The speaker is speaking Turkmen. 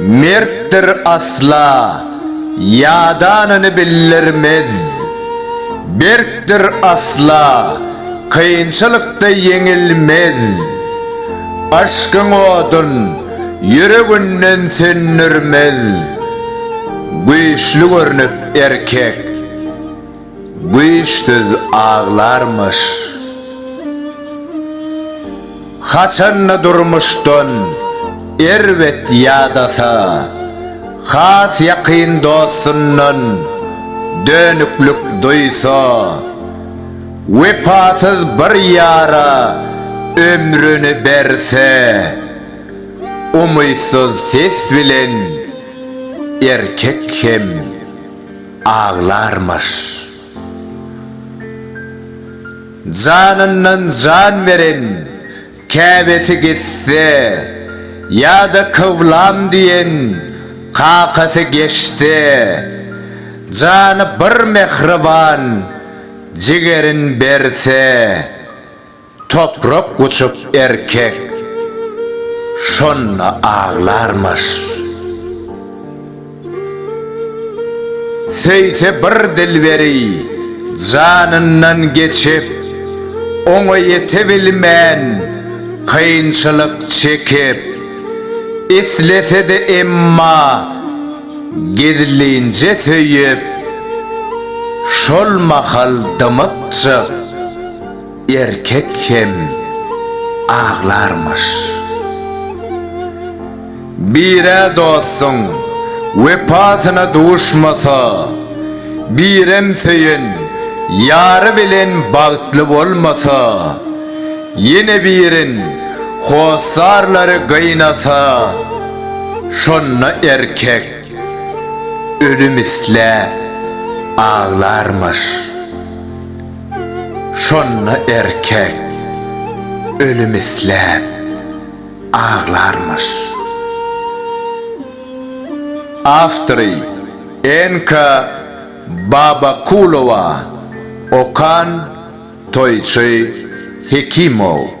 Mertdir asla, ýadanyny bildirmez. Berkdir asla, kynçylykda ýeňilmez. Aşkyň odun, ýüreginden söndürmez. Güýçli görnüp erkek. Güýçsüz aglarmyş. Haçanda durmuşdan erbet ýadasa, has ýakyn dostundan dönüklik duýsa, wepasyz bir ýara ömrüni berse, umytsyz ses bilen erkek hem. aglarmyş. Janyndan jan beren, käbesi gitse, ýa-da kyblam diýen kakasy geçse, jany bir mähriban jigerin berse. Toprak guçup erkek şonda aglarmyş. Söýse bir dilberi janyndan geçip, oňa ýetebilmän kynçylyk çekip, islese-de emma gizlinje söýüp, şol mahal dymypjyk. Erkek hem aglarmyş. Birä dostuň wepasyna duşmasa, birem söýen ýary bilen bagtly bolmasa, ýene birin hossarlary gynasa, şonda erkek ölüm isläp aglarmyş. Şonda erkek ölüm isläp aglarmyş. Awtory, Enka Babakulowa, okan, Toýçy Hekimow.